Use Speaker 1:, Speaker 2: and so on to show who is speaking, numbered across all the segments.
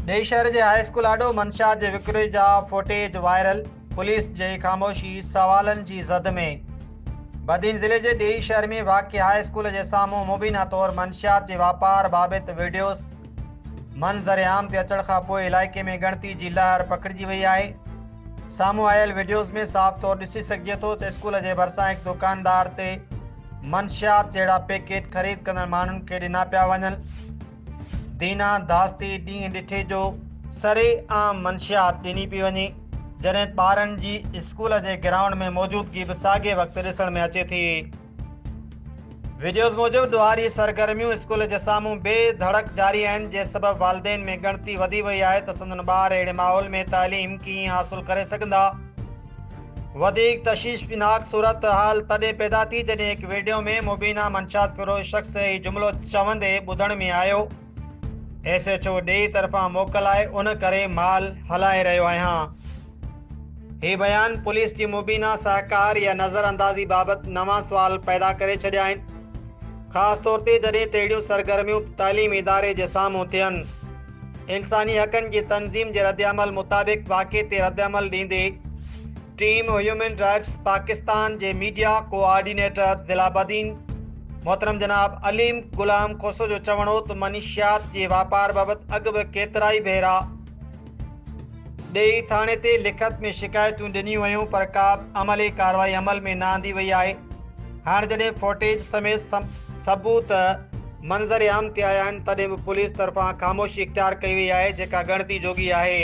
Speaker 1: ڏيئي شهر جي هاء اسڪول آڏو منشيات جي وڪري جا فوٽيج وائرل، پوليس جي خاموشي سوالن جي زد ۾. بدين ضلعي جي ڏيئي شهر ۾ واقع هاء اسڪول جي سامهون مبينا طور منشيات جي واپار بابت وڊيوز منظر عام تي اچڻ کان پوء علائقي ۾ ڳڻتي جي لهر پکڙجي وئي آهي. سامهون آيل وڊيوز ۾ صاف طور ڏسي سگهجي ٿو ته اسڪول جي ڀرسان هڪ دڪاندار تي منشيات جهڙا پيڪيٽ خريد ڪندڙ ماڻهن کي ڏنا پيا وڃن. دينا داس تي ڏينهن ڏٺي جو سري عام منشيات ڏني پئي وڃي، جڏهن ٻارن جي اسڪول جي گرائونڊ ۾ موجودگي به ساڳئي وقت ڏسڻ ۾ اچي ٿي. وڊيوز موجب ڏوهاري سرگرميون اسڪول جي سامهون بي ڌڙڪ جاري آهن، جنهن سبب والدين ۾ ڳڻتي وڌي وئي آهي ته سندن ٻار اهڙي ماحول ۾ تعليم ڪيئن حاصل ڪري سگهندا. وڌيڪ تشيشفناڪ صورتحال تڏهن پيدا ٿي جڏهن هڪ ويڊيو ۾ مبينا منشيات فروش شخص هي جملو چوندي ٻڌڻ ۾ آيو ايس ايڇ او ڊي طرفان موڪل آهي ان ڪري مال هلائي رهيو آهيان هي بيان پوليس جي مبينا سهڪار يا نظر اندازي بابت نوان سوال پيدا ڪري ڇڏيا آهن خاص طور تي جڏهن تهڙيون سرگرميون تعليمي اداري جي سامهون ٿين. انساني حقن جي تنظيم جي ردعمل مطابق واقعي تي ردعمل ڏيندي ٽيم هيومن رائٽس پاڪستان جي ميڊيا ڪو آرڊينيٽر ضلع بدين محترم جناب عليم غلام کوسو جو چوڻ هو ته منشيات جي واپار بابت اڳ به ڪيترائي ڀيرا ڏيئي ٿاڻي تي لکت ۾ شڪايتون ڏنيون ويون پر ڪابه عملي ڪارروائي عمل ۾ نه آندي وئي آهي هاڻ جڏهن فوٽيج سميت ثبوت منظر عام تي آيا آهن تڏهن به پوليس طرفان خاموشي اختيار ڪئي وئي آهي جيڪا ڳڻتي جوڳي آهي.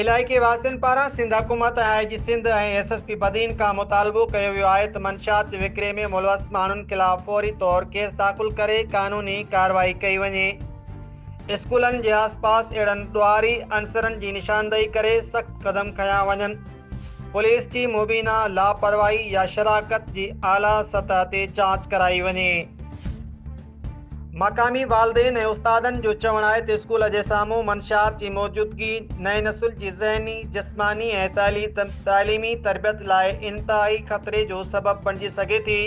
Speaker 1: علائقي واسين پاران سنڌ حڪومت ۽ I G Sindh ۽ S S P Badin کان مطالبو ڪيو ويو آهي ته منشيات جي وڪري ۾ ملوث ماڻهن خلاف فوري طور ڪيس داخل ڪري قانوني ڪارروائي ڪئي وڃي. اسڪولن جي آس پاس اهڙن ڏوهاري عنصرن جي نشاندهي ڪري سخت قدم کنيا وڃن، پوليس جي مبينا لاپرواهي يا شراڪت جي اعليٰ سطح تي جاچ ڪرائي وڃي. مقامي والدين ۽ استادن جو چوڻ آهي ته اسڪول جي سامهون منشيات جي موجودگي نئين نسل جي ذهني، جسماني ۽ تعليمي تربيت لاء انتهائي خطري جو سبب بڻجي سگهي ٿي.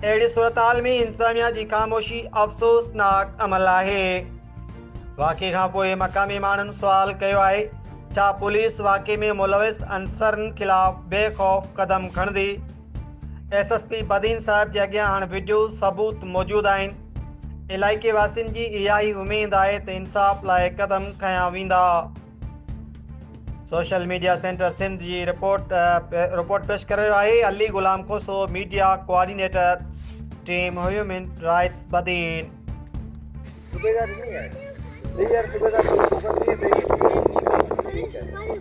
Speaker 1: اهڙي صورتحال ۾ انتظاميا جي خاموشي افسوسناڪ عمل آهي واقعي کان پوء مقامي ماڻهن سوال ڪيو آهي ڇا پوليس واقعي ۾ ملوث عنصرن خلاف بي خوف قدم کڻندي ايس ايس پي بدين صاحب جي اڳيان هاڻ وڊيو ثبوت موجود آهن علائقي واسين جي اها ئي اميد آهي ته انصاف لاء قدم کنيا ويندا سوشل ميڊيا سينٽر سنڌ جي رپورٽ رپورٽ پيش ڪري رهيو آهي Ali Ghulam Khoso media coordinator team human rights Badin صوبيدار ڏني آهي ڏيئي يار صوبيدار ڏني آهي ٺيڪ
Speaker 2: آهي